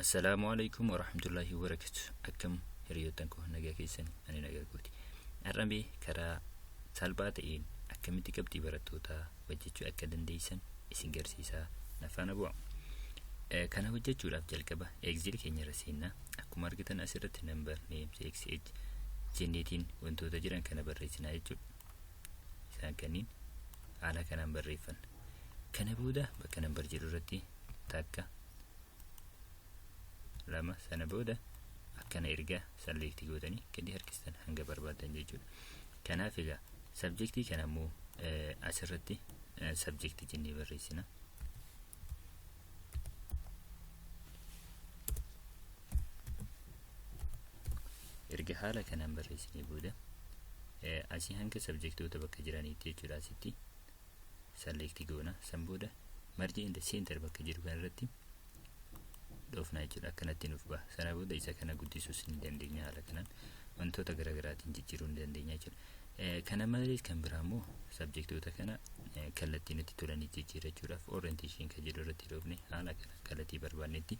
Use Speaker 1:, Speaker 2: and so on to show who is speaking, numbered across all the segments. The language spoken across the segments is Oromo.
Speaker 1: Assalaamu alaikum warahmatullaahi wabarakatu akkam hiriyoottan koo nagaa keessani ani nagaa kooti har'a mee karaa salphaa ta'een akkamitti qabxii barattootaa hojjechuu akka dandeessan isin garsiisaa nafaana bu'a Eh, kana hojjechuudhaaf jalqaba exil keenya irra seennaa akkuma argitan asirratti number names xh jenneetiin wantoota jiran kana barreessinaa jechuudha isaan kanniin haala kanaan barreeffanna kana booda bakka number jedhu irratti takka lama sana booda akkana erga salleektii gootanii gadi harkistan hanga barbaadan jechuudha. Kanaaf egaa sabjektii kana immoo asirratti sabjektii jennee barreessina. Erga haala kanaan barreessinee booda asii hanga sabjektoota bakka jiraniitti jechuudha asitti select goona san booda marge in the center bakka jedhu kana irratti dhoofna jechuudha akkanatti nuuf baha sana booda isa kana guddisuus ni dandeenya haala kanaan wantoota garaagaraatiin jijjiiruu ni dandeenya jechuudha kana malees kan biraa immoo sabjektoota kana kallattii nutti tolanii jijjiirrachuudhaaf orientation kan jedhu irratti dhoofne haala kana kallattii barbaannetti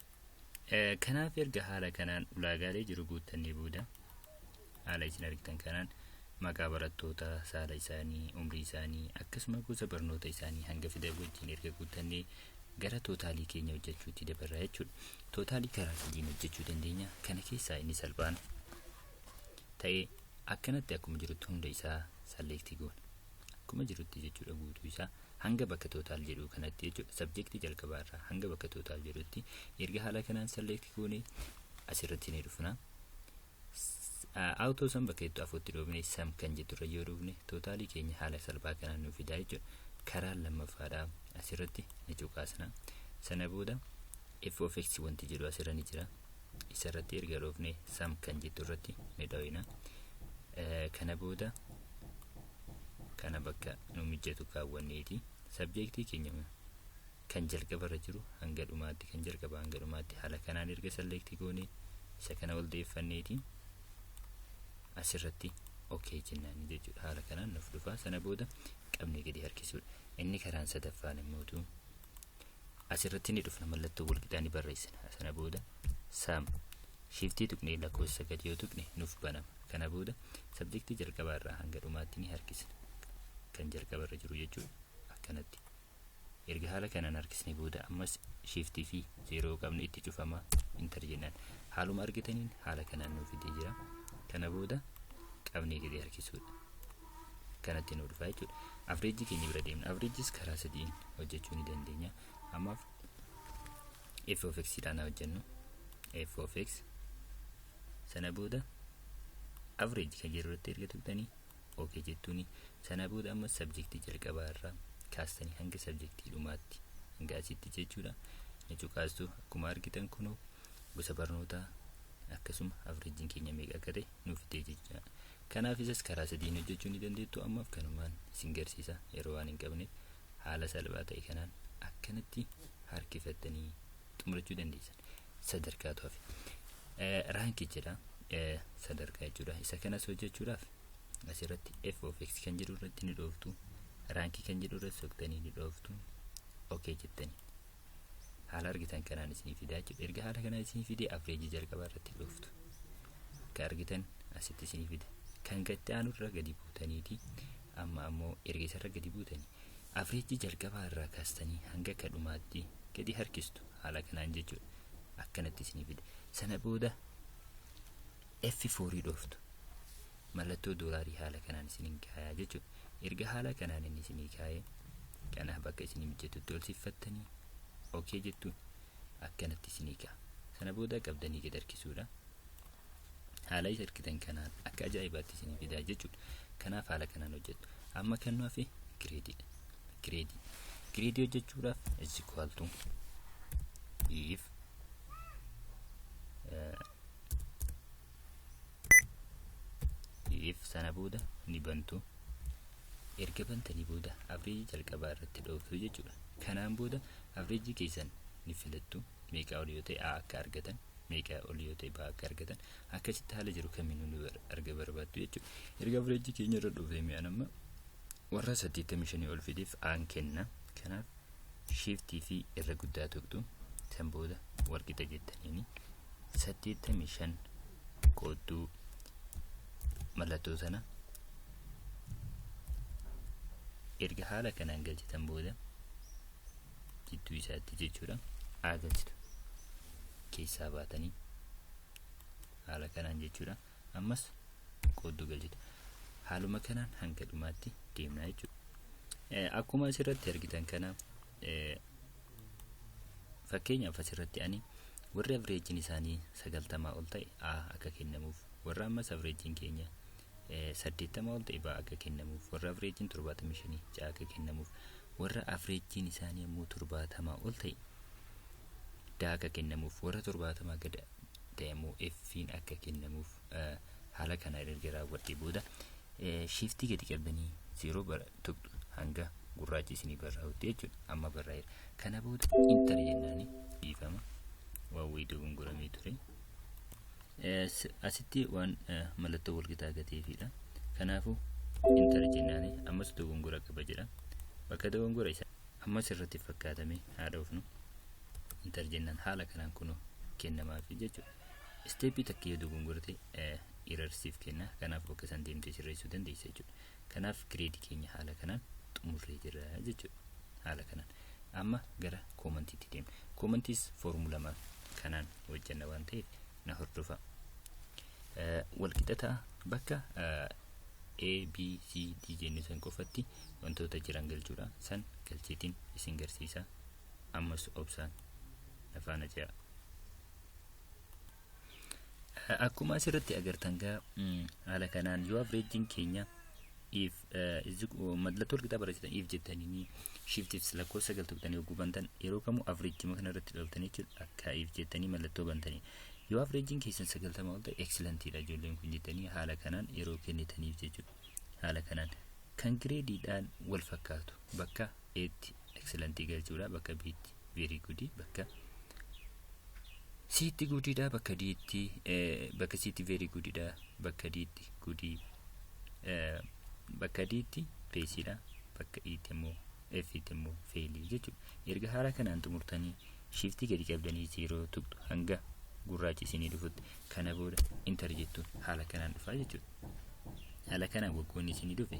Speaker 1: Kanaaf erga haala kanaan ulaagaalee jiru guuttannee booda haala isin argitan kanaan maqaa barattootaa, saala isaanii, umrii isaanii akkasuma gosa barnoota isaanii hanga fidan wajjin erga guuttannee gara tootaalii keenya hojjechuutti dabarra jechuudha. Tootaalii karaa sadiin hojjechuu dandeenya. Kana keessaa inni salphaan ta'ee akkanatti akkuma jirutti hunda isaa salleektii goona. Akkuma jirutti jechuudha guutuu isaa. Hanga bakka total jedhuu kanatti jechuudha subject jalqabaa irraa hanga bakka total jedhutti erga haala kanaan select goone asirratti ni dhufna. Auto san bakka jettu afuutti dhoofne sam kan jettu irra yoo dhufne totalii keenya haala salphaa kanaan nuuf fidaa jechuudha. Karaan lammaffaadha asirratti ni cuqaasna. Sana booda f of x wanti jedhu asirra ni jira. isa irratti erga dhoofne sam kan jettu irratti ni dhoyna kana booda kana bakka nu mijjatu kaawwanneeti sabjeektii keenya kan jalqaba irra jiru hanga dhumaatti kan jalqaba hanga dhumaatti haala kanaan erga salleektii goone isa kana ol deeffanneeti asirratti okee jennaan jechuudha haala kanaan nuuf dhufaa sana booda qabnee gadi harkisuudha inni karaan sadaffaan immootu asirratti ni dhufna mallattoo walqixaa ni barreessina sana booda saam shiftii tuqnee lakkoofsa sagal yoo tuqne nuuf banama kana booda sabjektii jalqabaa irraa hanga dhumaatti ni harkisna kan jalqaba irra jiru jechuudha akkanatti erga haala kanaan harkisne booda ammas shiftii fi zeeroo qabnu itti cufama intar jennaan haaluma argitaniin haala kanaan nuuf fidee jira kana booda qabnee gadi harkisuudha kanatti nu dhufa jechuudha. Avreejii keenya bira deemna. Avreejiis karaa sadiin hojjechuu ni dandeenya. Ammaaf f of x dhaan hojjennu. f of x sana booda avreeji kan jedhu irratti erga tuqxanii ok jettuuni sana booda amma sabjektii jalqabaa irraa kaastanii hanga sabjektii dhumaatti hanga asitti jechuudha. Ni cuqaastu akkuma argitan kunoo gosa barnootaa akkasuma avreejiin keenya meeqa akka ta'e nuuf fidee jechuudha. Kanaaf isas karaa sadiin hojjechuu ni dandeettu ammaaf kanumaan isin garsiisa yeroo waan hin qabneef haala salphaa ta'e kanaan akkanatti harkifattanii xumurachuu dandeessan sadarkaatu hafe Eh, raanki jedha eh, sadarkaa jechuudha isa kanas hojjechuudhaaf asirratti f of x kan jedhu irratti ni dhooftu raankii kan jedhu irratti soqtanii ni dhooftu ok jettanii haala argitan kanaan isinii fidaa jechuudha erga haala kanaan isinii fidee afreejii jalqabaa irratti dhooftu akka argitan asitti isinii fide kan gatti aanu irra gadi buutaniiti amma ammoo erga isarra gadi buutanii afreejii jalqabaa irraa kaastanii hanga akka dhumaatti gadi harkistu haala kanaan jechuudha akkanatti isinii fide sana booda F4 dhooftu. Mallattoo doolaarii haala kanaan isiniin kaayaa jechuudha. Erga haala kanaan inni isinii kaayee kanaaf bakka isinii mijjatutti ol siffattanii OK jettu akkanatti isinii ka'a. Sana booda qabdanii gad harkisuudha. Haala isa argitan kanaan akka ajaa'ibaatti isinii fidaa jechuudha. Kanaaf haala kanaan hojjettu. Amma kan nu hafe gireediidha. Gireedii. Gireedii hojjechuudhaaf is equal to if uh, if sana booda ni bantu erga bantanii booda avreejii jalqabaa irratti dhooftu jechuudha kanaan booda avreejii keessan ni filattu meeqaa ol yoo ta'e a akka argatan meeqaa ol yoo ta'e baa akka argatan akkasitti haala jiru kamiinuu ni arga barbaaddu jechuudha erga avreejii keenya irra dhoofee mi'aan amma Warra 85 ol fideef aan kenna. Kanaaf shiiftii fi irra guddaa tuqxu. San booda walqixa jettaniini. 85 qoodduu mallattoo sana erga haala kanaan galchitan booda jidduu isaatti jechuudha aa galchitu keessaa baatanii haala kanaan jechuudha. ammas qoodduu galchita haaluma kanaan hanga dhumaatti deemna jechuudha akkuma asirratti argitan kana fakkeenyaaf asirratti ani warri avreejiin isaanii sagaltamaa ol ta'e a akka kennamuuf warra ammas avreejiin keenya saddeettamaa ol ta'e baa akka kennamuuf warra avreejiin torbaatamii shanii ja'a akka kennamuuf warra avreejiin isaanii ammoo torbaatamaa ol ta'e daa akka kennamuuf warra torbaatamaa gada ta'e immoo F'n akka kennamuuf haala kana erga raawwadhee booda shiftii gadi qabdanii zeeroo bara tuqxu hanga gurraachi isinii barraa'utti jechuudha. Amma barraa'eera. Kana booda intar jennaani dhiifama waan wayii dogongoramee ture. Asitti waan mallattoo walqixa gateefiidha. Kanaafuu intar jennaani ammas dogongora qaba jedha. Bakka dogongora isaa ammas irratti fakkaatamee haa dhoofnu. intar jennaan haala kanaan kunoo kennamaafi jechuudha. Isteeppii takka yoo dogongorte irarsiif kenna. Kanaaf bakka san deemtee sirreessuu dandeessa jechuudha. Kanaaf gireedii keenya haala kanaan xumurree jirra jechuudha. Haala kanaan. Amma gara koomantiitti deemna. Koomantiis foormulamaan kanaan hojjenna waan ta'eef na hordofa. Walqixataa bakka A, B, C, D jennu san qofatti wantoota jiran galchuudha. San galcheetiin isin garsiisa. ammas obsaan na faana ce'a. Akkuma asirratti agartan gaa haala kanaan yoo avreejiin keenya if mallattoo walqixaa barreessitan if jettanii shiftiif lakkoofsa sagal tuqxanii yogguu bantan yeroo kamuu avreejima kana irratti dhoftanii jechuudha akka if jettanii mallattoo bantanii yoo avreejiin keessan sagaltama ol ta'e eksilantiidha ijoolleen kun jettanii haala kanaan yeroo kennitaniif jechuudha haala kanaan kan gireediidhaan wal fakkaatu bakka eetti eksilantii galchuudha bakka biitti veerii gudii bakka siitti gudiidha bakka diitti bakka siitti veerii gudiidha bakka diitti gudii bakka diitti peesiidha bakka iitti immoo efiitti immoo feelii jechuudha erga haala kanaan xumurtanii shiiftii gadi qabdanii zeeroo tuqxu hanga gurraachi isinii dhufutti kana booda intar jettuun haala kanaan dhufaa jechuudha haala kanaan waggoonni isinii dhufe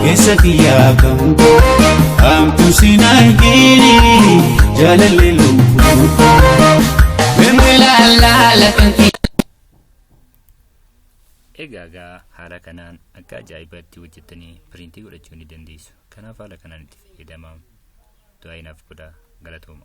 Speaker 2: Keessa kiyyaa kan koo Hamtu sin argini Jaalalli lubbuu koo Bimbilaalala kan
Speaker 1: kiyyaa Egaa egaa haala kanaan akka ajaa'ibaatti hojjettanii piriintii godhachuu ni dandeessu. Kanaaf haala kanaan itti fayyadamaa. Du'aa inaaf godhaa galatooma.